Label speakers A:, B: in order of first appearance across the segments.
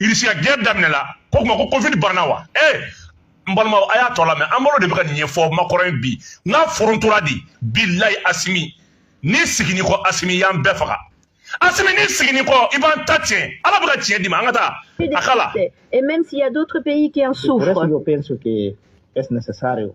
A: irisiya guerre daminɛla ko kuma ko covid banna wa ee eh, n balimaw a y'a tɔ lamɛn embalo de bɛ ka nin ɲɛfɔ makɔrɔn ye bi n ka forontora de bilayi asimi ni sigini kɔ asimi y'an bɛɛ faga asimi ni sigini kɔ i b'an ta tiɲɛ ala bɛ ka tiɲɛ d'i ma an ka taa a k'a la et même s'il y
B: a d'autres pays qui en souffrent es necesario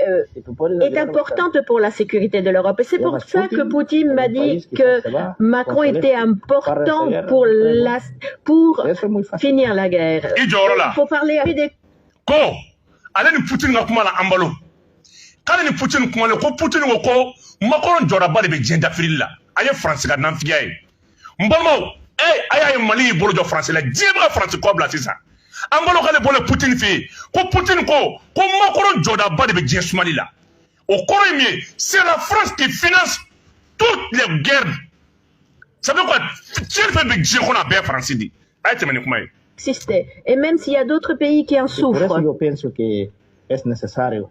B: euh, est importante pour la sécurité de l'Europe. Et c'est pour ça que Poutine m'a dit que Macron était important pour, la, pour finir la guerre. Il faut parler avec des... Ko, ale ni Poutine ka kuma la Embalo. K'ale ni Poutine kuma la, ko Poutine ko ko Macron
A: jɔdaba de bɛ diɲɛ dafirili la. A ye France ka nanfigiya ye. n balimaw e a y'a ye mali y'i bolo jɔ faransi la diɲɛ bɛ ka faransi kɔ bila sisan embalo k'ale bɔlen putin fɛ yen ko putin ko ko makɔrɔn jɔdaba de bɛ diɲɛ sumali la o kɔrɔ ye min ye c'est la france qui finance toutes les guerres ça veut quoi tiɲɛni fɛn bɛ diɲɛ kɔnɔ a bɛɛ faransi de a ye tɛmɛ ni kuma ye existe. Et
B: même s'il y a d'autres pays qui en souffrent. Por eso yo pienso que es necesario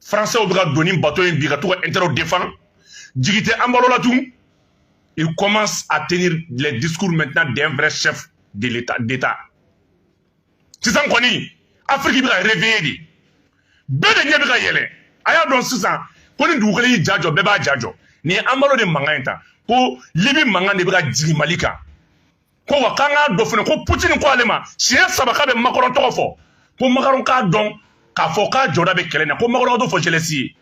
A: françaisw bɛ ka don ni bato ye bi ka t'u ka intérêt défendre jigi tɛ embalo la tun il commence à tenir les discours maintenant d'un vrai chef de l'état d'état sisan kɔni afiriki bɛ ka réveiller dɛ bɛɛ de ɲɛ bɛ ka yɛlɛ a y'a dɔn sisan ko ni dugu kelen y'i ja jɔ bɛɛ b'a ja jɔ nin ye embalo de mankan ye tan ko libi mankan de bɛ ka jigin mali kan ko wa k'an k'a dɔn fana ko putini ko ale ma siɲɛ saba k'a bɛ makɔrɔn tɔgɔ fɔ ko makɔrɔn k'a dɔn k'a fɔ k'a jɔda bɛ kɛlɛ na ko makɔrɔn ka t'o fɔ zelensky ye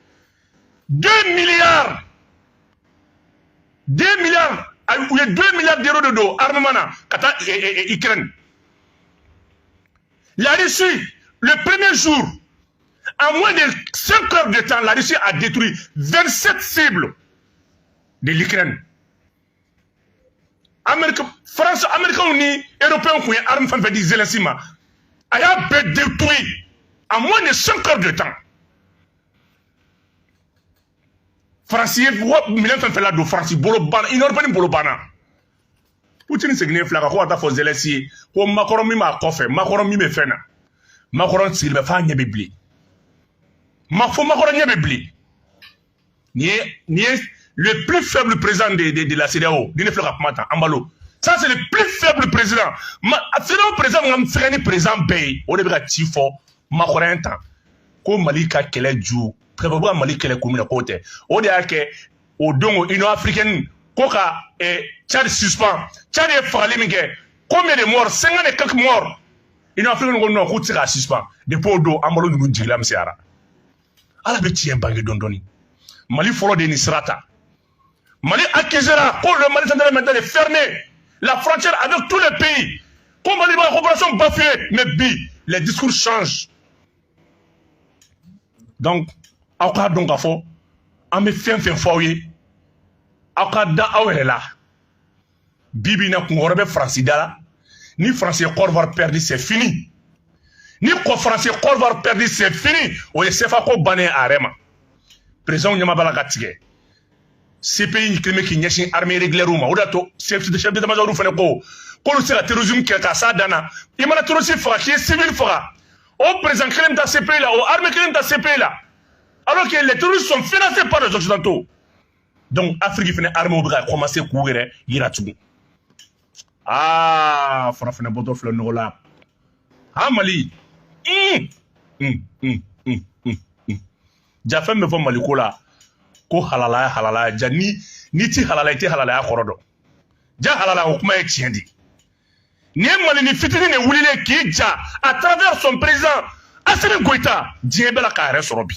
A: deux milliards deux milliards u ye deux milliards d'euros de don armement na ka taa ukraine la russie le premier jour en moins de 5 heures de temps la russie a détruit 27 cibles de l'ukraine amerika faransi amerikanw ni eropɛnw kun ye arme fɛn fɛn di zelensky ma a y'a bɛɛ détruit en moins de 5 heures de temps faransi ye minɛn fɛn fɛn ladon faransi bolo banna union européenne bolo banna putini seginnen filɛ ka ko ka taa fɔ zelensky ye ko makɔrɔn min b'a kɔfɛ makɔrɔn min bɛ fɛn na makɔrɔn sigilen bɛ f'a ɲɛ bɛ bilen ma fo makɔrɔn ɲɛ bɛ bilen nin ye nin ye le plus faible président de de de la CEDEAO nin de filɛ ka kuma ta Embalo ça c'est le plus faible président ma CEDEAO président min ka fɛgɛn ni président bɛɛ ye o de bɛ ka ci fɔ Macron ye tan ko Mali ka kɛlɛ ju pɛrɛbɛ u bɛ ka Mali kɛlɛ kun min na k'o tɛ o de y'a kɛ o don ko Union africaine ko ka eh, Tchad suspend Tchad ye fagali min kɛ combien de morts 50 et quelques morts Union africaine ko non k'u tɛ se k'a suspend depuis o don Embalo ninnu jigilamisɛnyara ala bɛ tiɲɛ bange dɔɔni dɔɔni mali fɔlɔ de ye nin sira ta mali accusera ko le mali central maintenant est fermé la frontière avec tous les pays ko mali b'a coopération bafouer mais bi les discours changent donc aw k'a dɔn k'a fɔ an bɛ fɛn fɛn fɔ aw ye aw ka da aw yɛrɛ la bi bi in na kun wɛrɛ bɛ faransi da la ni faransi ye kɔdiwari pɛridi c'est fini ni ko faransi ye kɔdiwari pɛridi c'est fini o ye sefa ko bannen a yɛrɛ ma présidentw ɲɛma b'a la ka tigɛ cpi kelen bɛ k'i ɲɛsin armée régulière ma o de y'a to chef d'état-major fana ko k'olu se ka terrorisme kɛlɛ k'a s'a dan na i mana terroriste faga k'i ye civil faga o président kelen bɛ taa cpi la o armée kelen bɛ taa cpi la alors que les terroristes sont financés par les occidentaux donc afiriki fana armew bɛ ka kɔmanse k'u yɛrɛ yira tugun aa farafinna bɔtɔ filɛ nɔgɔ la ha mali ja fɛn bɛ fɔ mali ko la ko halalaya halalaya ja n'i tɛ halala i tɛ halalaya kɔrɔ dɔn ja halala o kuma ye tiɲɛ de nin ye malini fitinin de wulilen k'i ja à travers son président asimi goyita diɲɛ bɛɛ la k'a yɛrɛ sɔrɔ bi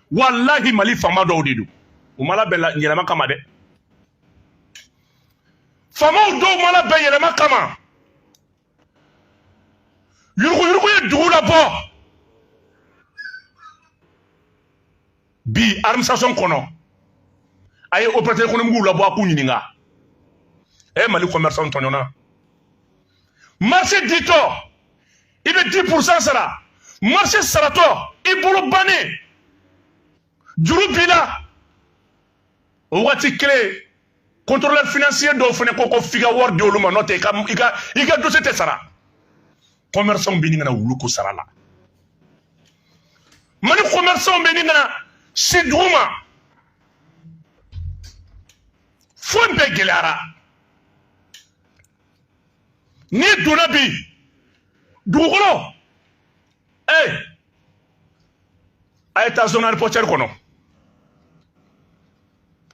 A: walahi mali faama dɔw de don u ma labɛn yɛlɛma kama dɛ faamaw dɔw ma labɛn yɛlɛma kama yuruguyurugu ye dugu labɔ bi administration kɔnɔ a ye opérateur économiquew labɔ a k'u ɲininka ɛ mali commerçant tɔɲɔna marché ditɔ i bɛ dix pourcent sara marché saratɔ i bolo bannen juru b'i la o wagati kelen contrôleur financier dɔw fana ko ko f'i ka wari di olu ma n'o tɛ i ka i ka i ka dossier tɛ sara commerçantw bɛ ɲini ka na wulu ko sara la mali commerçantw bɛ ɲini ka na si duguma fɛn bɛɛ gɛlɛyara. n'i donna bi dugukolo ee eh, a ye taa zone aéroportuaire kɔnɔ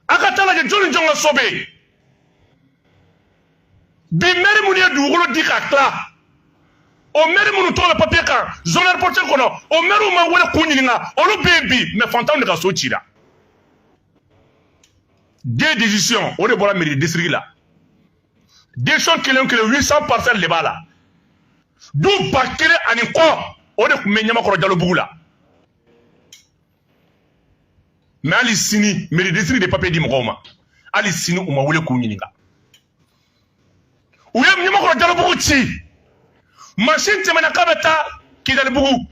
A: a ka taa lajɛ jɔn ni jɔn ka so bɛ yen bi mɛri minnu ye dugukolo di ka tila o mɛri minnu tɔgɔ bɛ papiye kan zone aéroportuaire kɔnɔ o mɛriw ma wele k'u ɲininka olu bɛ yen bi mais fantanw de ka so cira dɛ décision o de bɔra mairie du district la desɔn kelen kelen huit cent parcelle de b'a la du ba kelen ani kɔ o de tun bɛ ɲamakɔrɔ jalobugu la mɛ hali sini meri district de papiye di mɔgɔw ma hali sini u ma wele k'u ɲininka u ye ɲamakɔrɔ jalobugu ci masin tɛmɛna k'a bɛ taa kidalibugu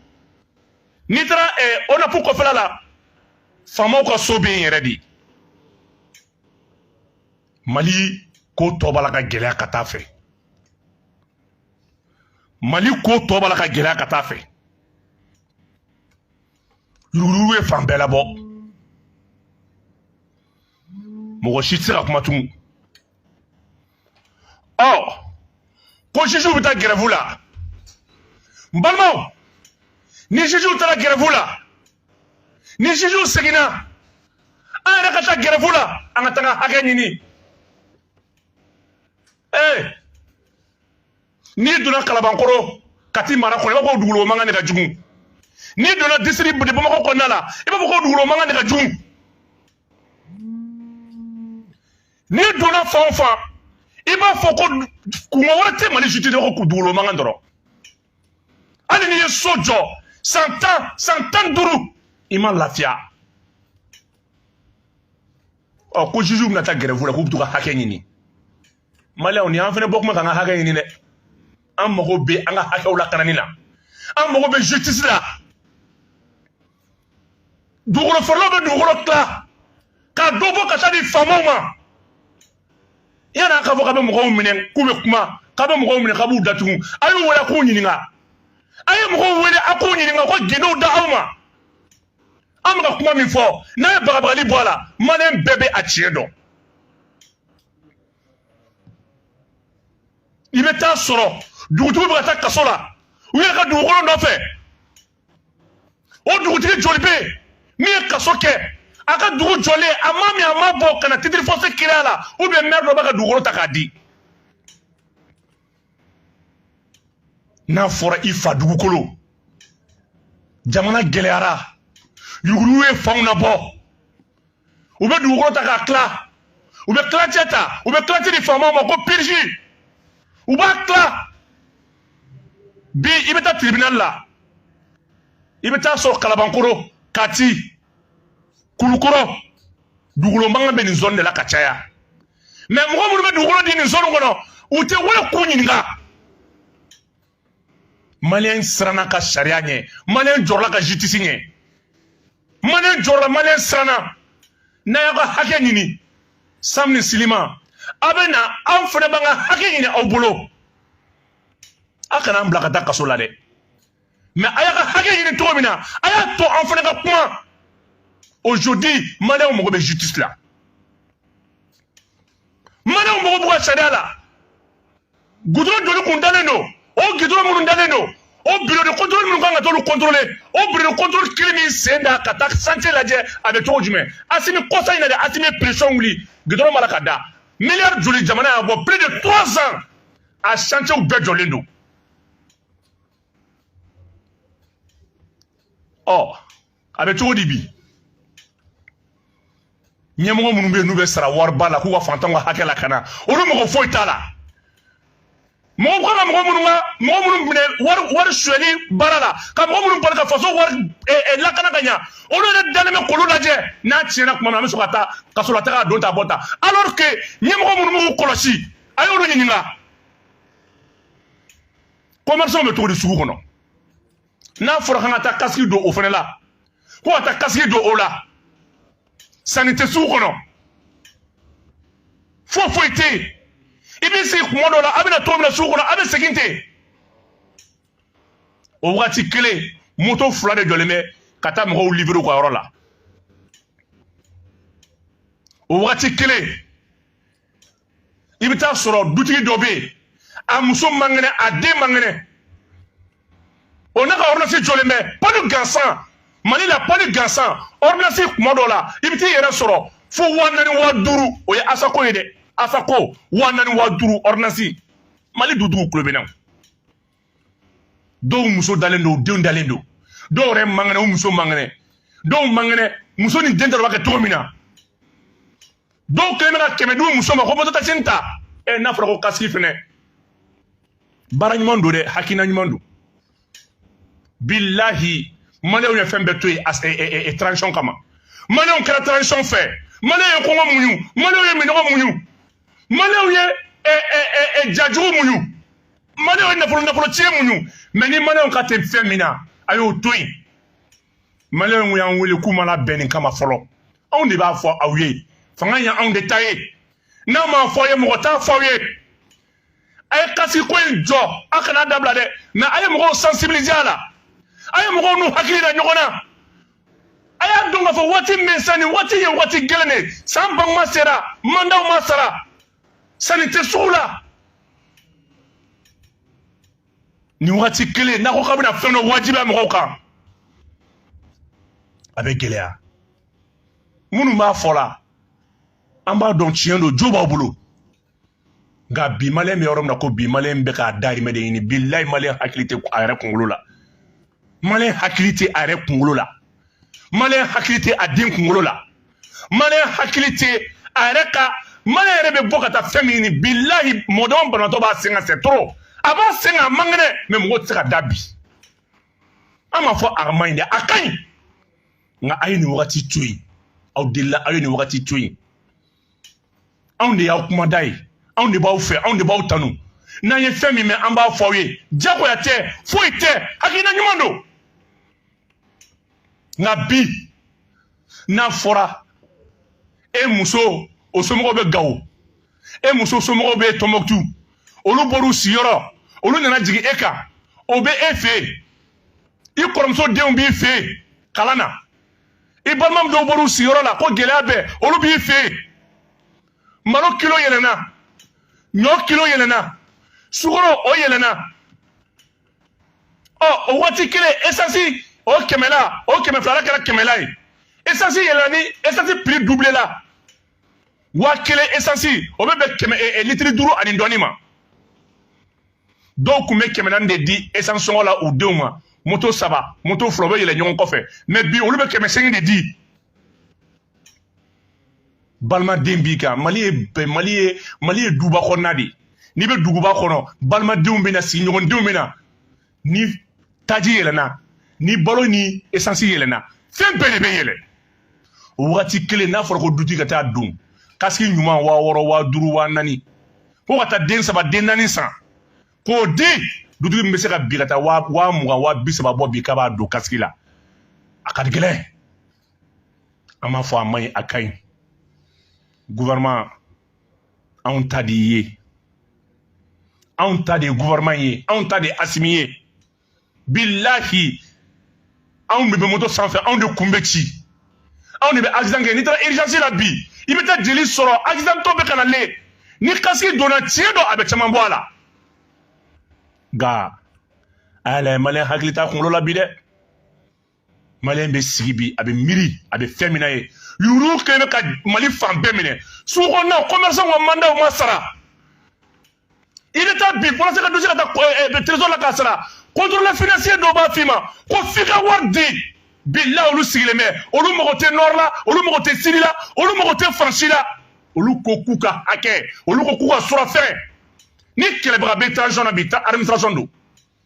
A: n'i taara eh, onapu kɔfɛla la faamaw ka so bɛ yen yɛrɛ de mali ko tɔ b'a la ka gɛlɛya ka taa fɛ mali ko tɔ b'a la ka gɛlɛya ka taa fɛ yuruguyurugu ye fan bɛɛ labɔ mɔgɔ si tɛ se ka kuma tugun ɔ ko jujuw bɛ taa gɛrɛfu la n balimaw ni jujuw taara gɛrɛfu la ni jujuw seginna an yɛrɛ ka taa gɛrɛfu la an ka t'an ka hakɛ ɲini ee eh, n'i donna kalabankoro kati mara kɔnɔ i b'a fɔ ko dugukolo mankan de ka jugu n'i donna district de bamakɔ kɔnɔna la i b'a fɔ ko dugukolo mankan de ka jugu n'i donna fan o fan i b'a fɔ ko kunko wɛrɛ tɛ mali justice la ko dugukolo mankan dɔrɔn hali n'i ye so jɔ san tan san tan ni duuru i ma lafiya ɔ ko jujuw bɛna taa gɛrɛfu la k'u bɛ t'u ka hakɛ ɲini maliyɛnw ni an fana bɔ kuma k'an ka hakɛ ɲini dɛ an mago bɛ an ka hakɛw lakanani na an mago bɛ justice la dugukolo faralaw bɛ dugukolo tila ka dɔ bɔ ka taa di faamaw ma yan'a k'a fɔ k'a bɛ mɔgɔw minɛ k'u bɛ kuma k'a bɛ mɔgɔw minɛ k'a b'u datugu a y'u wele a k'u ɲininka a ye mɔgɔw wele a k'u ɲininka ko gindow da aw ma an bɛ ka kuma min fɔ n'a ye bagabagali bɔ a la maliyɛn bɛɛ bɛ a tiɲɛ dɔn i bɛ taa sɔrɔ dugutigiw bɛ ka taa kaso la u yɛrɛ ka dugukolo nɔfɛ o dugutigi joli bɛ yen min ye kaso kɛ a ka dugu jɔlen a ma min a ma bɔ ka na titre foncier créer a la ubiyɛn mɛri dɔ b'a ka dugukolo ta k'a di n'a fɔra i fa dugukolo jamana gɛlɛyara yuruguyurugu ye fanw labɔ u bɛ dugukolo ta k'a tila u bɛ tilancɛ ta u bɛ tilancɛ di faamaw ma ko purge u b'a tila bi i bɛ taa tribunal la i bɛ taa sɔrɔ kalabankoro kati kulukɔrɔ dugukolo mankan bɛ nin zɔni de la ka caya mɛ mɔgɔ minnu bɛ dugukolo di nin zɔni kɔnɔ u tɛ wele k'u ɲininka maliyɛn siranna ka sariya ɲɛ maliyɛn jɔrɔla ka justice ɲɛ maliyɛn jɔrɔla maliyɛn siranna n'a y'aw ka hakɛ ɲini sam ni silima aw bɛ na anw fana b'an ka hakɛ ɲini aw bolo aw kana an bila ka taa kaso la dɛ mais a y'a ka hakɛ ɲini cogo min na a y'a to an fana ka kuma aujourd'hui maliyɛnw mago bɛ justice la maliyɛnw mago b'u ka sariya la gudɔrɔn joli kun dalen don o gudɔrɔn minnu dalen don o bureau de contrôle minnu kan ka t'olu contrôler o bureau de contrôle kelen m'i sen da ka taa chantier lajɛ a bɛ cogo jumɛn asimi kɔsa in na de asimi ye pression wuli gudɔrɔn b'a la ka da miliyari joli jamana y'a bɔ plus de trois ans a chantierw bɛɛ jɔlen don ɔ a bɛ cogo di bi ɲɛmɔgɔ minnu bɛ yen n'u bɛ sara wariba la k'u ka fantanw ka hakɛ lakana olu mago foyi t'a la mɔgɔ kan ka mɔgɔ minnu ka mɔgɔ minnu minɛ wari wari suyɛli baara la ka mɔgɔ minnu bali ka faso wari eh, eh, lakana ka ɲa olu yɛrɛ dalen bɛ k'olu lajɛ n'a tiɲɛna tuma min an bɛ sɔn ka taa kaso la taa k'a don ta bɔ ta alors que ɲɛmɔgɔ minnu b'u kɔlɔsi a y'olu ɲininka commerçant bɛ cogo di sugu kɔnɔ n'a fɔra k'an ka taa kasiki don o fana la ko ka taa kasiki don o la sanni tɛ sugu kɔnɔ foyi foyi tɛ yen i bɛ sigi kuma dɔ la a bɛ na cogo min na sugu kɔnɔ a bɛ segin ten o wagati kelen moto fila de jɔlen bɛ ka taa mɔgɔw livrer u ka yɔrɔ la o wagati kelen i bɛ taa sɔrɔ dutigi dɔ bɛ yen a muso man kɛnɛ a den man kɛnɛ o n'a ka ordonnance jɔlen bɛ palu gansan mali la palu gansan ordonnance kuma dɔ la i bɛ t'i yɛrɛ sɔrɔ fo wa naani wa duuru o ye asako ye dɛ asako wa naani wa duuru ordonnance mali du dugukolo bɛɛ na dɔw muso dalen don denw dalen don dɔw yɛrɛ man kɛnɛ u muso man kɛnɛ dɔw man kɛnɛ muso ni den tɛ b'a kɛ cogo min na dɔw kɛlen bɛ ka kɛmɛ di muso ma ko moto takisini ta ɛ eh, n'a fɔra ko kasiki fɛnɛ baara ɲuman don dɛ hakilina ɲuman don bilahi maliyɛnw ye fɛn bɛɛ to yen eh, eh, transition kama maliyɛnw kɛra transition fɛ maliyɛn ye kɔngɔ muɲu maliyɛnw ye minɔgɔ muɲu maliyɛnw ye jajugu muɲu maliyɛnw ye nafolo nafolo tiɲɛ muɲu mais ni maliyɛnw kan tɛ fɛn min na a y'o to yen maliyɛnw y'an wele k'u ma labɛn nin kama fɔlɔ anw de b'a fɔ aw ye fanga ye anw de ta ye n'an m'a fɔ aw ye mɔgɔ t'a fɔ aw ye a ye kasiki ko in jɔ a kana dabila dɛ mais a ye mɔgɔw sensibiliser a la a ye mɔgɔw n'u hakili da ɲɔgɔn na a y'a dɔn k'a fɔ waati min sa nin waati ye waati gɛlɛn de san ban kuma sera mandaw ma sara sanni tɛ sugu la nin wagati kelen n'a ko k'a bɛna fɛn dɔ wajibiya mɔgɔw kan a bɛ gɛlɛya minnu b'a fɔ la an b'a dɔn tiɲɛ don jo b'aw bolo nka bi maliyɛn bɛ yɔrɔ min na ko bi maliyɛn bɛ k'a dahirimɛ de ɲini bilahi maliyɛn hakili tɛ a yɛrɛ kunkolo la maliyɛn hakili tɛ a yɛrɛ kunkolo la maliyɛn hakili tɛ a den kunkolo la maliyɛn hakili tɛ a yɛrɛ ka maliyɛn yɛrɛ bɛ bɔ ka taa fɛn min ɲini bilahi mɔgɔ dɔ banatɔ b'a sen kan c'est trop a b'a sen kan a man kɛnɛ mɛ mɔgɔ tɛ se ka da bi an m'a fɔ a man ɲi dɛ a ka ɲi nka a ye nin wagati to yen aw delila aw ye nin wagati to yen anw de y'aw kumada ye anw de b'aw fɛ anw de b'aw tanu n'an ye fɛn min mɛn an b'a fɔ aw ye jagoya tɛ foyi tɛ hakilina ɲuman don nka bi n'a fɔra e muso o somɔgɔw bɛ gawo e muso somɔgɔw bɛ tɔnbɔkutu olu bɔr'u sigiyɔrɔ olu nana jigin e kan o bɛ e fɛ yen i kɔrɔmuso denw b'i fɛ yen kalan na i balima dɔw bɔr'u sigiyɔrɔ la ko gɛlɛya bɛ olu b'i fɛ yen malo kilo yɛlɛnna ɲɔ kilo yɛlɛnna sukoro o yɛlɛnna ɔ o waati kelen esansi o kɛmɛla o kɛmɛ filala kɛra kɛmɛla ye esansi yɛlɛna ni esansi piri dubilela waa kelen esansi o bɛ bɛn kɛmɛ eh, eh, litiri duuru ani dɔɔni ma dɔw tun bɛ kɛmɛ naani de di esansi sɔngɔ la u denw ma moto saba moto fila u bɛ yɛlɛ ɲɔgɔn kɔfɛ mɛ bi olu bɛ kɛmɛ seegin de di balimaden b'i kan mali ye mali ye duba kɔnɔna de ye n'i bɛ duguba kɔnɔ balimadenw bɛ na sigiɲɔgɔndenw bɛ na ni taji yɛlɛna ni balo ni esansi yɛlɛna fɛn bɛɛ de bɛ yɛlɛ o wagati kelen n'a fɔra ko dutigi ka taa don kasiki ɲuman waa wɔɔrɔ waa duuru waa naani ko ka taa den saba den naani san k'o di dutigi min bɛ se ka bi ka taa waa mugan waa bi saba bɔ bi k'a b'a don kasiki la a ka gɛlɛn an m'a fɔ a man ɲi a ka ɲi gouvernement anw ta de ye anw ta de ye gouvernement ye anw ta de ye asimi ye bilahi anw de bɛ moto sanfɛ anw de kun bɛ ci anw de bɛ accident kɛ n'i taara urgence la bi i bɛ taa jeli sɔrɔ accident tɔ bɛ ka na le ni kasiki donna tiɲɛ don a bɛ caman bɔ a la nka a y'a lajɛ maliyɛn hakili t'a kunkolo la bi dɛ maliyɛn bɛ sigi bi a bɛ miiri a bɛ fɛn min na ye yurugu kɛlen bɛ ka mali fan bɛɛ minɛ sugu kɔnɔnaw kɔmɛrisanw ka mandaw ma sara i bɛ taa bi walasa ka dossier ka taa eh, eh, trésor la ka sara contrôle financier dɔw b'a f'i ma ko f'i ka wari di bila olu sigilen bɛ olu mago tɛ nord la olu mago tɛ sud la olu mago tɛ faransi la olu ko k'u ka hakɛ olu ko k'u ka surafɛn ni kɛlɛbaga bɛ transition na bi ta administration don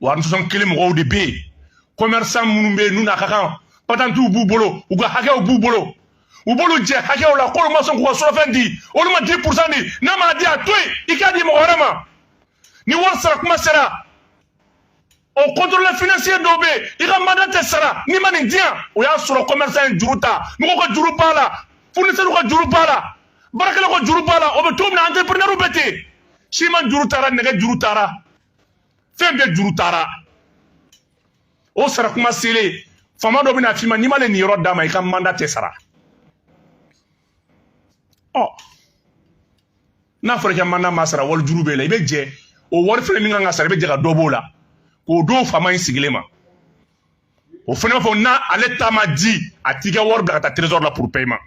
A: wa administration kelen mɔgɔw de bɛ yen commerçant minnu bɛ yen n'u n'a ka kan patantiw b'u bolo u ka hakɛw b'u bolo u b'olu jɛ hakɛw la k'olu ma sɔn k'u ka surafɛn di olu ma 10 pourcent di n'a ma di a to yen i k'a di mɔgɔ wɛrɛ ma ni wari sara kuma sera o contrôle financier dɔw bɛ yen i ka manda tɛ sara n'i ma nin di yan o y'a sɔrɔ commerçant ye juru ta mɔgɔw ka juru b'a la fournisseur ka juru b'a la baarakɛlaw ka juru b'a la o bɛ cogo min na entrepreneurw bɛ ten siman juru tara nɛgɛ juru tara fɛn bɛɛ juru tara o sara kuma selen faama dɔ bɛna f'i ma n'i m'ale nin yɔrɔ d'a ma i ka manda tɛ sara ɔ n'a fɔra i ka manda ma sara wali juru b'e la i bɛ jɛ o wari fɛnɛ min kan ka sara i bɛ jɛ ka dɔ b'o la k'o don faama in sigilen ma o fana b'a fɔ n'a ale ta ma di a t'i ka wari bila ka taa trésor la pour paiement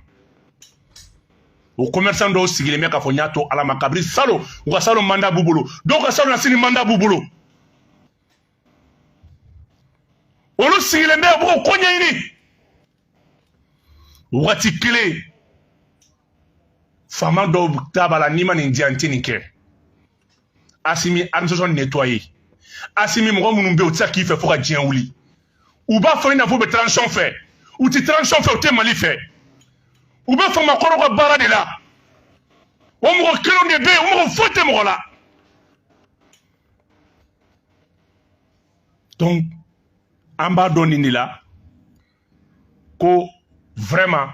A: o commerçant dɔw sigilen bɛ k'a fɔ n y'a to ala ma kabiri salo u ka salo manda b'u bolo dɔw ka salo na sini manda b'u bolo olu sigilen bɛ u b'o ko ɲɛɲini wagati kelen faama dɔw ta b'a la n'i ma nin di an tɛ nin kɛ asimi administration nettoyer asimi mɔgɔ minnu bɛ yen u tɛ se k'i fɛ fo ka diɲɛ wuli u b'a fɔ i n'a fɔ u bɛ transition fɛ u tɛ transition fɛ u tɛ mali fɛ u bɛ faama kɔrɔ ka baara de la o mɔgɔ kelenw de bɛ yen u mago foyi tɛ mɔgɔ la donc an b'a dɔn nin de la ko vraiment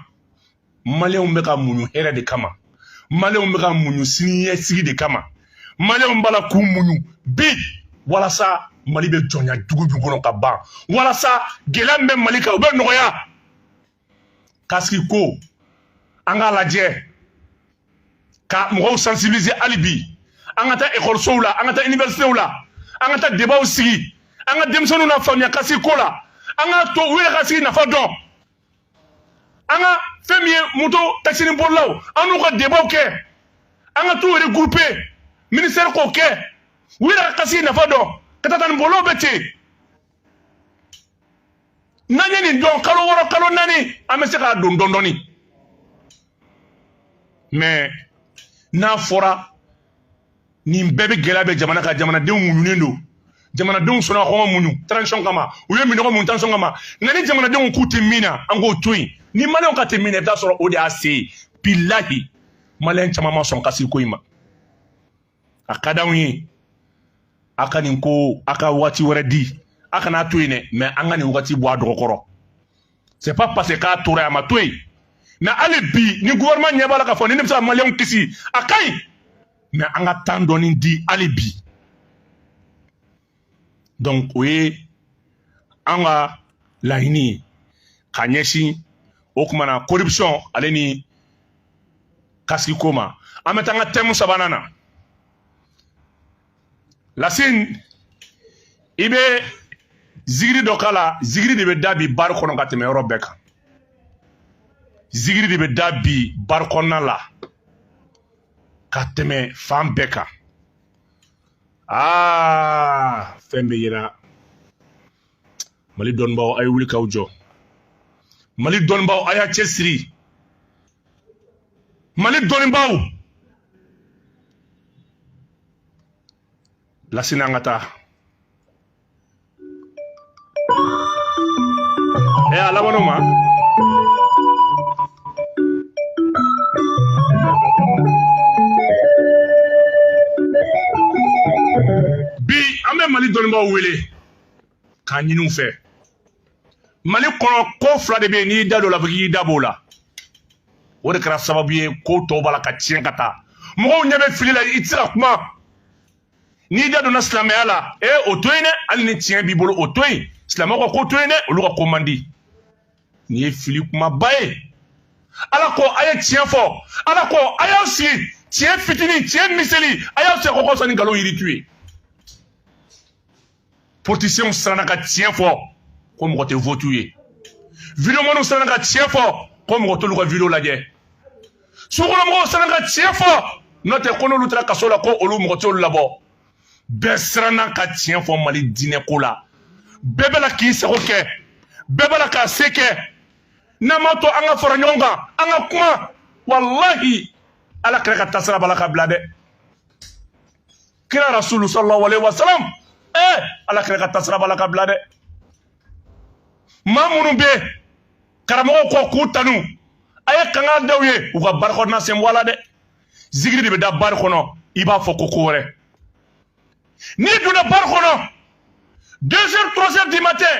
A: maliyɛnw bɛ ka muɲu hɛrɛ de kama maliyɛnw bɛ ka muɲu siniɲɛsigi de kama maliyɛnw b'a la k'u muɲu bi walasa mali bɛ jɔnya jugu min kɔnɔ ka ban walasa gɛlɛya min bɛ mali kan o bɛ nɔgɔya kasiki ko an k'a lajɛ ka mɔgɔw sensibiliser hali bi an ka taa ekɔlisow la an ka taa iniversitew la an ka taa debaw sigi an ka denmisɛnninw nafaamuya kasiki ko la an ka to u yɛrɛ ka kasiki nafa dɔn an ka fɛn min ye moto takisini bolilaw an n'u ka debaw kɛ an ka t'u regrouper ministɛri k'o kɛ u yɛrɛ ka kasiki nafa dɔn katakatanin bolilaw bɛ ten n'an ye nin dɔn kalo wɔɔrɔ kalo naani an bɛ se k'a don dɔɔnin dɔɔnin mais n'a fɔra nin bɛɛ bɛ gɛlɛya bɛ jamana kan jamanadenw muɲunen don jamanadenw sɔnna kɔngɔ muɲu transition kama u ye minɔgɔ muɲu transition kama nka ni jamanadenw k'u tɛ min na an k'o to yen ni maliyɛnw k'a tɛ min na i bɛ t'a sɔrɔ o de y'a se ye bilahi maliyɛn caman ma sɔn kasigi ko in ma a ka d'anw ye a ka nin ko a ka waati wɛrɛ di a kana to yen dɛ mais an ka nin wagati bɔ a dɔgɔ kɔrɔ c'est pas parce que k'a tora a ma to yen mais hali bi ni gouvernement ɲɛ b'a la k'a fɔ ni ne bɛ se ka maliyɛnw kisi a ka ɲi mais an ka temps dɔɔni di hali bi donc o ye an ka laɲini ye ka ɲɛsin o kuma na corruption ale ni kasigi ko ma an bɛ taa an ka thème sabanan na lasini i bɛ zigiri dɔ k'a la zigiri de bɛ da bi baro kɔnɔ ka tɛmɛ yɔrɔ bɛɛ kan zigiri de bɛ da bi baro kɔnɔna la ka tɛmɛ fan bɛɛ kan aa fɛn bɛ yira mali dɔnnibaaw a ye wuli k'aw jɔ mali dɔnnibaaw a y'a cɛsiri mali dɔnnibaaw lasini an ka taa ɛ a laban'o ma bi an bɛ mali dɔnnibaaw wele k'a ɲini u fɛ mali kɔnɔ ko fila de bɛ yen n'i y'i da don o la fo k'i da b'o la o de kɛra sababu ye ko tɔw b'a la ka tiɲɛ ka taa mɔgɔw ɲɛ bɛ fili la i tɛ se ka kuma n'i da donna silamɛya la e o to yen dɛ hali ni tiɲɛ b'i bolo o to yen silamɛw ka ko to yen dɛ olu ka ko man di nin ye fili kumaba ye ala ko a ye tiɲɛ fɔ ala ko a y'aw sigi tiɲɛ fitinin tiɲɛ miseli a y'aw sigi o kɔrɔ sanni nkalon yiri tu ye politiciens siranna ka tiɲɛ fɔ ko mɔgɔ tɛ vote u ye videomaniw siranna ka tiɲɛ fɔ ko mɔgɔ t'olu ka video lajɛ sugukɔnɔmɔgɔw siranna ka tiɲɛ fɔ n'o tɛ ko n'olu taara kaso la ko olu mɔgɔ t'olu labɔ bɛɛ siranna ka tiɲɛ fɔ mali diinɛ ko la bɛɛ b'a la k'i sago kɛ bɛɛ b'a la k'a se kɛ n'an m'a to an ka fara ɲɔgɔn kan an ka kuma walahi ala kira ka taasira b'a la ka bila dɛ kira rasulu sallallahu alaihi wasallam eh ala kira ka taasira b'a la ka bila dɛ maa minnu bɛ karamɔgɔw kɔ k'u tanu a ye kanga da u ye u ka bari kɔnɔna sen bɔ a la dɛ zigiri de bɛ da bari kɔnɔ i b'a fɔ ko ko wɛrɛ n'i donna bari kɔnɔ deux heures trois heures du matin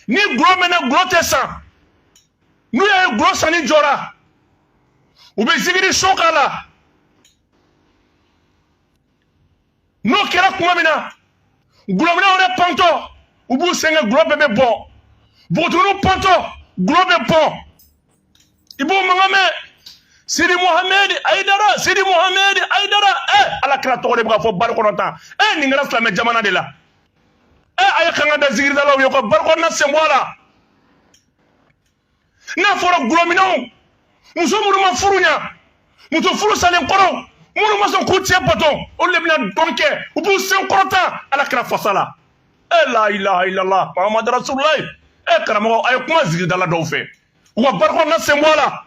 A: ni gulɔ mɛnna gulɔ tɛ san n'u y'a ye gulɔ sanni jɔra u bɛ zigiri son k'a la n'o kɛra kuma min na gulɔminnaw yɛrɛ pantɔ u b'u sɛgɛn gulɔ bɛɛ bɛ bɔn npogotiginiw pantɔ gulɔ bɛ bɔn i b'o mankan mɛn sidi muhammed ayidara sidi muhammed ayidara ɛ eh, ala kira tɔgɔ de bɛ ka fɔ bari kɔnɔ tan ɛ eh, nin kɛra silamɛ jamana de la ɛ eh, a ye kanga da zigiridalaw ye u ka bari kɔnɔna sen bɔ a la n'a fɔra gulɔminnaw muso minnu ma furu ɲa muso furu salen kɔrɔ minnu ma sɔn k'u cɛ bato olu le bɛna dɔn kɛ u b'u sen kɔrɔta ala kira fasa la e eh, la ilaha illallah mahamadu rasululayi e eh, karamɔgɔ a ye kuma zigiridala dɔw fɛ u ka bari kɔnɔna sen bɔ a la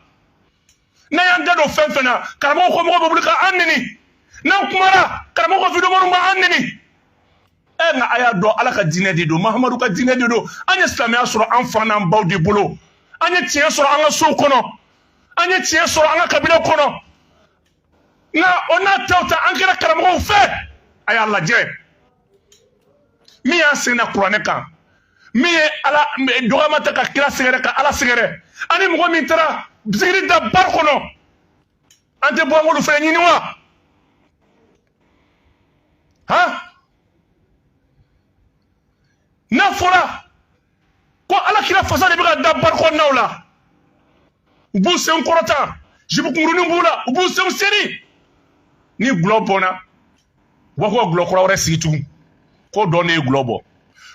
A: n'an y'an da don fɛn fɛn na karamɔgɔ kɔmɔgɔ bɛ wuli ka an neni n'an kumara karamɔgɔ ka videomanw b'an neni ɛ nka a y'a dɔn ala ka diinɛ de don mahamadu ka diinɛ de don an ye silamɛya sɔrɔ an fa n'an baw de bolo an ye tiɲɛ sɔrɔ an ka sow kɔnɔ an ye tiɲɛ sɔrɔ an ka kabila kɔnɔ nka o n'a ta o ta an kɛra karamɔgɔw fɛ a y'a lajɛ min y'a seginna kuranɛ kan min ye ala dɔgɔma ta ka kira sɛgɛrɛ ka ala sɛgɛrɛ ani mɔgɔ min taara zigiri da bari kɔnɔ an tɛ bɔ an k'olu fɛɛrɛ ɲini wa han n'a fɔra ko ala kira fasa de bɛ ka da bari kɔnɔnaw la u b'u sen kɔrɔta zipu kunkurunin b'u la u b'u senw seri ni gulɔ bɔnna u b'a fɔ ka gulɔ kura wɛrɛ sigi tugun ko dɔn ne ye gulɔ bɔn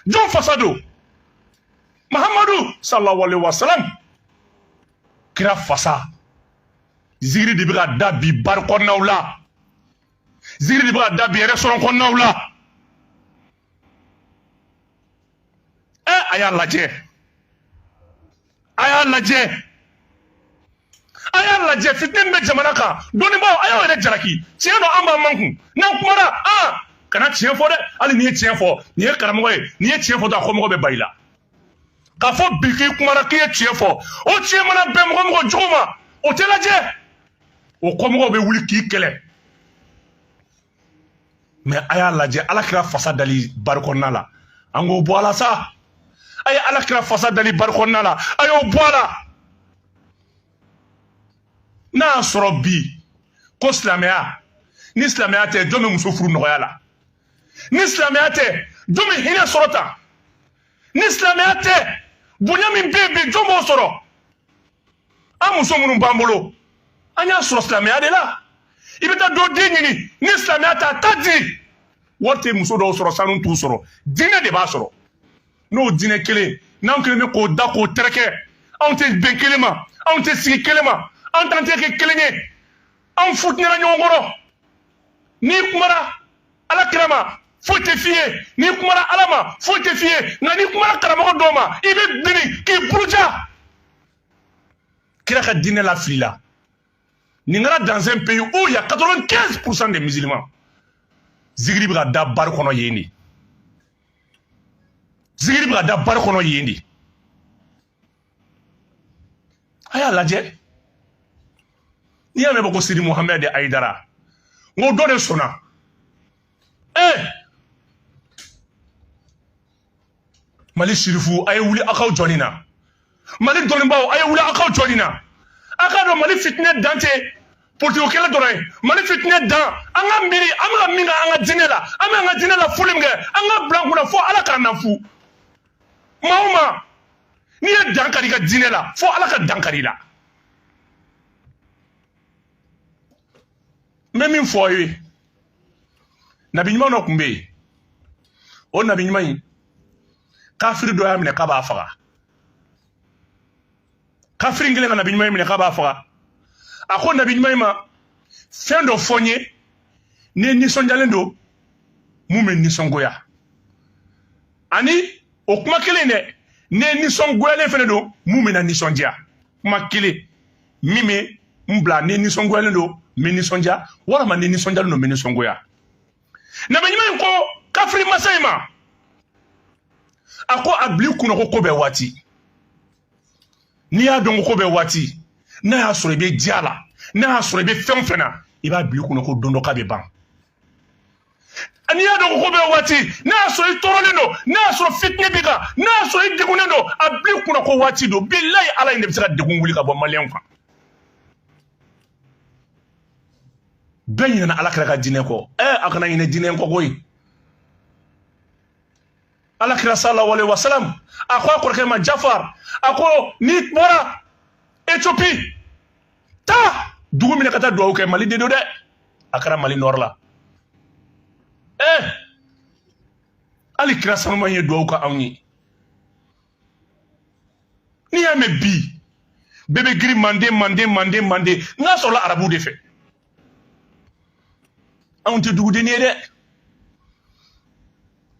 A: jɔn fasa don mahamadu sallallahu alaihi wasalam kira fasa zigiri de bɛ ka da bi bari kɔnɔnaw la zigiri de bɛ ka da bi restaurant kɔnɔnaw la ɛ a y'a lajɛ a y'a lajɛ a y'a lajɛ fitinɛ bɛ jamana kan dɔnnibaaw a y'aw yɛrɛ jalaki tiɲɛ don an b'an makun n'an kumara an kana tiɲɛ fɔ dɛ hali n'i ye tiɲɛ fɔ nin ye karamɔgɔ ye n'i ye tiɲɛ fɔ dɔrɔn a kɔmɔgɔ bɛ ba i la k'a fɔ bi k'i kumara k'i ye tiɲɛ fɔ o tiɲɛ mana bɛn mɔgɔ o mɔgɔ jogo ma o tɛ lajɛ o kɔmɔgɔw bɛ wuli k'i kɛlɛ mɛ a y'a lajɛ ala kira fasa dali bari kɔnɔna la an k'o bɔ a la sa a ye ala kira fasa dali bari kɔnɔna la a y'o bɔ a la n'a y'a sɔrɔ bi ko silamɛya ni silamɛya tɛ jɔn bɛ muso furu nɔgɔya la ni silamɛya tɛ jɔn bɛ hinɛ sɔrɔ tan ni silamɛya tɛ bonya min bɛ yen bi jɔn b'o sɔrɔ an muso minnu b'an bolo an y'a sɔrɔ silamɛya de la i bɛ taa dɔ den ɲini ni silamɛya tɛ a tɛ di wari tɛ muso dɔw sɔrɔ sanu t'u sɔrɔ diinɛ de b'a sɔrɔ n'o diinɛ kelen n'an kɛlen bɛ k'o da k'o tɛrɛkɛ anw tɛ bɛn kelen ma anw tɛ sigi kelen ma anw t'an tɛgɛ kɛ kelen ye anw futinɛna ɲɔgɔn kɔrɔ n'i kumara ala kira ma foyi tɛ f'i ye n'i kumara ala ma foyi tɛ f'i ye nka n'i kumara karamɔgɔ dɔw ma i bɛ biri k'i buruja kira ka diinɛ lafilila nin kɛra dans un pays où il y a 95 pourcent des musulmans zikiri bɛ ka da bari kɔnɔ yen de zikiri bɛ ka da bari kɔnɔ yen de a y'a lajɛ n'i y'a mɛn bɛ ko sidi muhammed ayidara n ko dɔ de sɔnna ee mali sirifuw a ye wuli aw k'aw jɔ nin na mali dɔnnibaaw a ye wuli aw k'aw jɔ nin na a k'a dɔn mali fitinɛ dan tɛ politiko kɛlɛ dɔrɔn ye mali fitinɛ dan an ka miiri an bɛ ka min kɛ an ka diinɛ la an bɛ an ka diinɛ lafuli min kɛ an k'a bila an kunna fo ala k'an nafu maa o maa n'i ye dankari i ka diinɛ la fo ala ka dankari i la n bɛ min fɔ aw ye nabi ɲuman dɔ tun bɛ yen o nabi ɲuman in kafiri dɔ y'a minɛ k'a b'a faga kafiri in kɛlen ka nabi ɲuman in minɛ k'a b'a faga a ko nabi ɲuman in ma fɛn dɔ fɔ n ye ni n nisɔndiyalen don min bɛ n nisɔngoya ani o kuma kelen de ni n nisɔngoyalen fɛnɛ don min bɛna n nisɔndiya kuma kelen min bɛ n bila ni n nisɔngoyalen don n bɛ nisɔndiya walima ni n nisɔndiyalen don n bɛ nisɔngoya nabi ɲuman in ko kafiri masa in ma a ko a bil'i kunna ko ko bɛɛ waati n'i y'a dɔn ko ko bɛɛ waati n'a y'a sɔrɔ i bɛ diya la n'a y'a sɔrɔ i bɛ fɛn o fɛn na i b'a bil'i kunna ko don dɔ k'a bɛ ban n'i y'a dɔn ko ko bɛɛ waati n'a y'a sɔrɔ i tɔɔrɔlen don n'a y'a sɔrɔ fitinɛ b'i kan n'a y'a sɔrɔ i degunnen don a bil'i kunna ko waati don bilayi ala in de bɛ se ka degun wuli ka bɔ maliyɛnw kan bɛɛ ɲinɛna ala kira ka diinɛ kɔ ɛ a kana ɲinɛ diinɛ kɔ koyi ala kira sallallahu alaihi wasallam a ko a kɔrɔkɛ ma jafar a ko n'i bɔra ethiopie taa dugu min na ka taa dugawu kɛ mali de don dɛ a kɛra mali nord la ee eh! hali kira sanuman ye dugawu kɛ anw ye n'i y'a mɛn bi bɛɛ bɛ girin manden manden manden manden n'a sɔrɔla arabu de fɛ anw tɛ dugudennin ye dɛ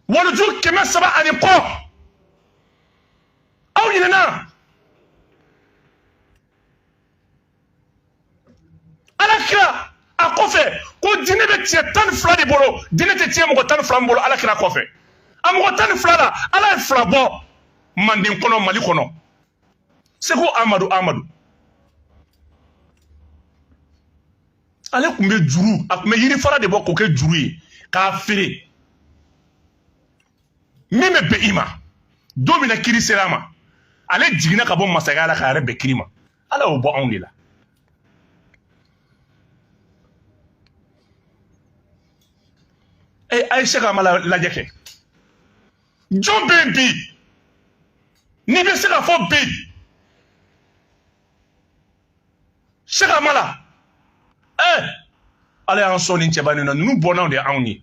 A: waliju kɛmɛ saba ani kɔ aw ɲinɛna ala kira a kɔfɛ ko diinɛ bɛ tiɲɛ tan ni fila de bolo diinɛ tɛ tiɲɛ mɔgɔ tan ni fila min bolo ala kira kɔfɛ a mɔgɔ tan ni fila la ala ye fila bɔ manden kɔnɔ mali kɔnɔ seku amadu amadu ale tun bɛ juru a tun bɛ yiri fara de bɔ k'o kɛ juru ye k'a feere min bɛ bɛn i ma don min na kiiri sera a ma ale jiginna ka bɔ masakɛya la k'a yɛrɛ bɛn kiiri ma ala y'o bɔ anw de la a ye cheikh amala lajɛ kɛ jɔn bɛ yen bi n'i bɛ se k'a fɔ bi cheikh amala ɛɛ ala y'an sɔn nin cɛba nin na ninnu bɔnnaw de y'anw ye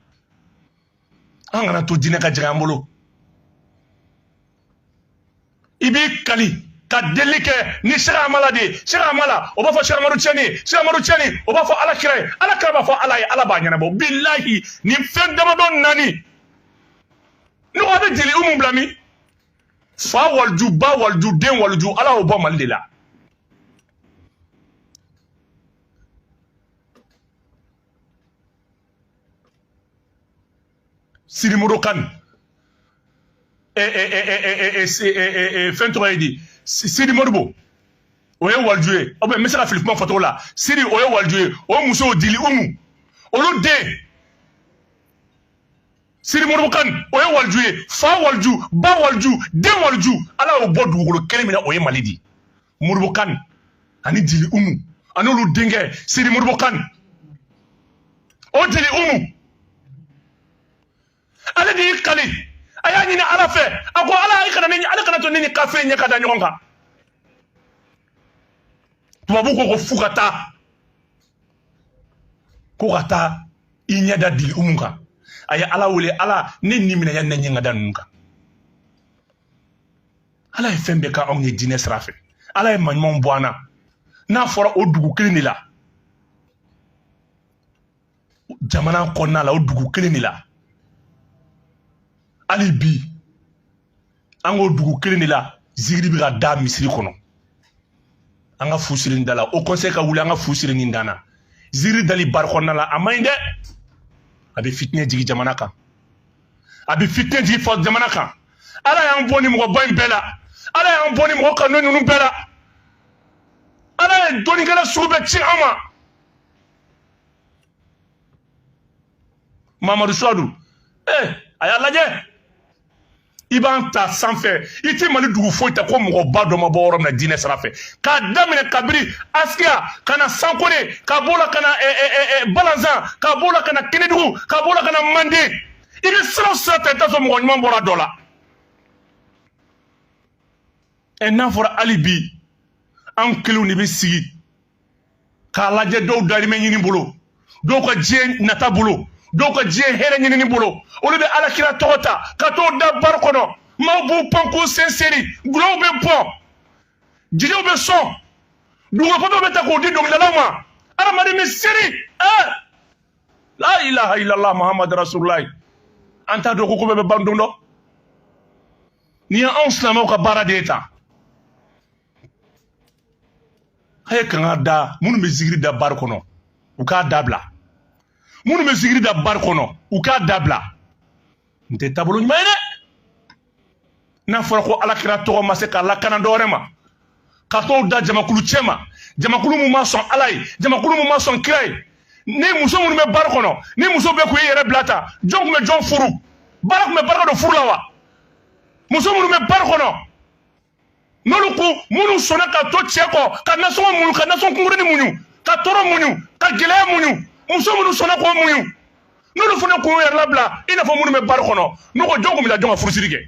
A: an kana to diinɛ ka jigin an bolo i b'i kali ka delili kɛ ni cheikh amala de ye cheikh amala o b'a fɔ cheikh amadu tijani ye cheikh amadu tijani o b'a fɔ ala kira ye ala kira b'a fɔ ala ye ala b'a ɲɛnabɔ bilahi nin fɛn damadɔ naani ne ko a bɛ dili umu bila min fa waliju ba waliju den waliju ala y'o bɔ mali de la siri moro kan fɛn tɔgɔ ye di sidi moribo o ye waliju ye o bɛ n bɛ se ka fili kuma fɔcogo la sidi o ye waliju ye o muso dili umu olu den sidi moribo kan o ye waliju ye fa waliju ba waliju den waliju ala y'o bɔ dugukolo kelen min na o ye mali de ye moribo kan ani dili umu ani olu denkɛ siri moribo kan o dili umu ale de y'i kali a y'a ɲini ala fɛ a ko ala i kana ne ala kana to ne ni kafiri ɲɛ ka da ɲɔgɔn kan tubabu ko ko fo ka taa ko ka taa i ɲɛ da dili umu kan a ye ala wele ala ne ni minɛ yani n ɲɛ ka da ninnu kan ala ye fɛn bɛɛ k'anw ye diinɛ sira fɛ ala ye maɲumanw bɔ an na n'a fɔra o dugu kelen de la jamana kɔnɔna la o dugu kelen de la hali bi an k'o dugu kelen de la zigiri bɛ ka da misiri kɔnɔ an ka fu siri nin da la haut conseil ka wuli an ka fu siri nin dan na zigiri dali bari kɔnɔna la a man ɲi dɛ a bɛ fitinɛ jigin jamana kan a bɛ fitinɛ jigin fa jamana kan ala y'an bɔ ni mɔgɔba in bɛɛ la ala y'an bɔ ni mɔgɔ kanu ninnu bɛɛ la ala ye dɔnnikɛla sugu bɛɛ ci an ma mamadu suwadu ee eh, a y'a lajɛ i b'an ta sanfɛ i tɛ mali dugu foyi ta ko mɔgɔba dɔ ma bɔ yɔrɔ min na diinɛ sira fɛ k'a daminɛ kabiri askiya ka na sankore ka b'o la ka na eh, eh, eh, balanzan ka b'o la ka na kɛnɛdugu ka b'o la ka na manden i bɛ sira o sira ta i t'a sɔrɔ mɔgɔ ɲuman bɔra dɔ la ɛ n'a fɔra hali bi an kelenw de bɛ sigi k'a lajɛ dɔw darimɛ ɲini bolo dɔw ka diɲɛ nata bolo dɔw ka diɲɛ hɛrɛ ɲinini bolo olu bɛ alakira tɔgɔ ta ka t'o da bari kɔnɔ maaw b'u pan k'u sen seri dɔlɔw bɛ bɔn jeliw bɛ sɔn dugukolo bɛ ta k'o di dɔnkilidalaw ma adamaden bɛ seri ɛɛ la ilaha illallah muhammadu rasululayi an t'a dɔn ko ko bɛɛ bɛ ban don dɔ nin ye anw silamɛw ka baara de ye tan a ye kanga da minnu bɛ zigiri da bari kɔnɔ u k'a dabila minnu bɛ zigiri da bari kɔnɔ u k'a dabila nin tɛ taabolo ɲuman ye dɛ n'a fɔra ko alakira tɔgɔ ma se ka lakana dɔwɛrɛ ma ka t'o da jamakulu cɛ ma jamakulu mun ma sɔn ala ye jamakulu mun ma sɔn kira ye ni muso minnu bɛ bari kɔnɔ ni muso bɛɛ kun y'i yɛrɛ bila tan jɔn kun bɛ jɔn furu ala kun bɛ barika don furu la wa muso minnu bɛ bari kɔnɔ n'olu ko minnu sɔnna ka to cɛ kɔ ka nasɔngɔ muɲu ka nasɔngɔ kunkurunin muɲu ka tɔɔrɔ muɲu ka gɛlɛya muɲu muso minnu sɔnna k'o muɲu n'olu fana kun y'u yɛrɛ labila i n'a fɔ minnu bɛ bari kɔnɔ n ko jɔn kun bɛ taa jɔn ka furusiri kɛ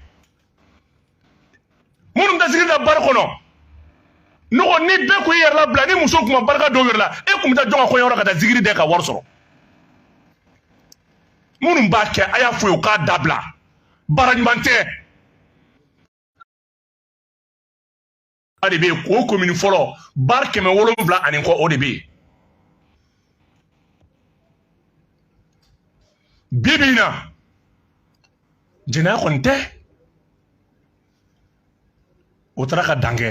A: minnu bɛ zigiri da bari kɔnɔ n ko ni bɛɛ kun y'i yɛrɛ labila ni muso kun ma barika don u yɛrɛ la e kun bɛ taa jɔn ka kɔɲɔyɔrɔ ka taa zigiri da ka wari sɔrɔ minnu b'a kɛ a y'a fɔ u ye u k'a dabila baara ɲuman tɛ o de bɛ yen ko komini fɔlɔ bari kɛmɛ wolonwula ani kɔ o de bɛ yen bi bi in na jɛnɛya kɔni tɛ o taara ka dan kɛ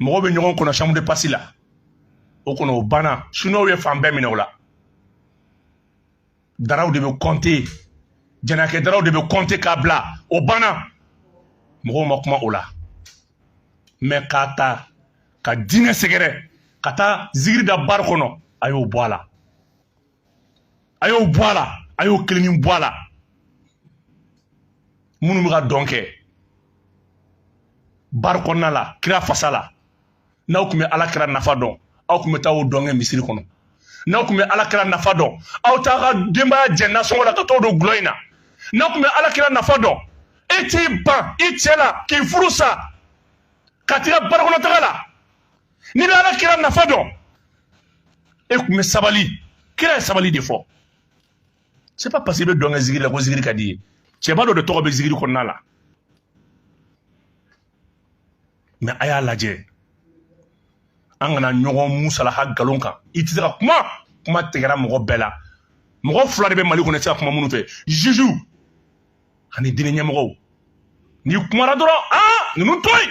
A: mɔgɔw bɛ ɲɔgɔn kɔnɔ chambre de passe la o kɔnɔ o banna siniwaw ye fan bɛɛ minɛ o la daraw de bɛ compter jɛnɛyakɛ daraw de bɛ compter k'a bila o banna mɔgɔw ma kuma o la mais k'a ta ka diinɛ sɛgɛrɛ ka taa zikiri da bari kɔnɔ a y'o bɔ a la a y'o bɔ a la a y'o kelenni bɔ a la minnu bɛ ka dɔn kɛ bari kɔnɔna la kira fasa la n'aw tun bɛ ala kira nafa dɔn aw tun bɛ taa o dɔn kɛ misiri kɔnɔ n'aw tun bɛ ala kira nafa dɔn aw t'a ka denbaya jɛ nasɔngɔ la ka t'o don gulɔ in na n'aw tun bɛ ala kira nafa dɔn e t'i ban i cɛ la k'i furu sa ka tila bari kɔnɔ taga la n'i bɛ ala kira nafa dɔn e tun bɛ sabali kira ye sabali de fɔ c'est pas parce que i bɛ dɔn kɛ zikiri la ko zikiri ka d'i ye cɛba dɔ de tɔgɔ bɛ zikiri kɔnɔna la mais a y'a lajɛ an kana ɲɔgɔn musalaha galon kan i tɛ se ka kuma kuma tigɛra mɔgɔ bɛɛ la mɔgɔ fila de bɛ mali kɔnɔ i tɛ se ka kuma minnu fɛ juge ani diinɛ ɲɛmɔgɔw n'i kumara dɔrɔn aa ninnu to yen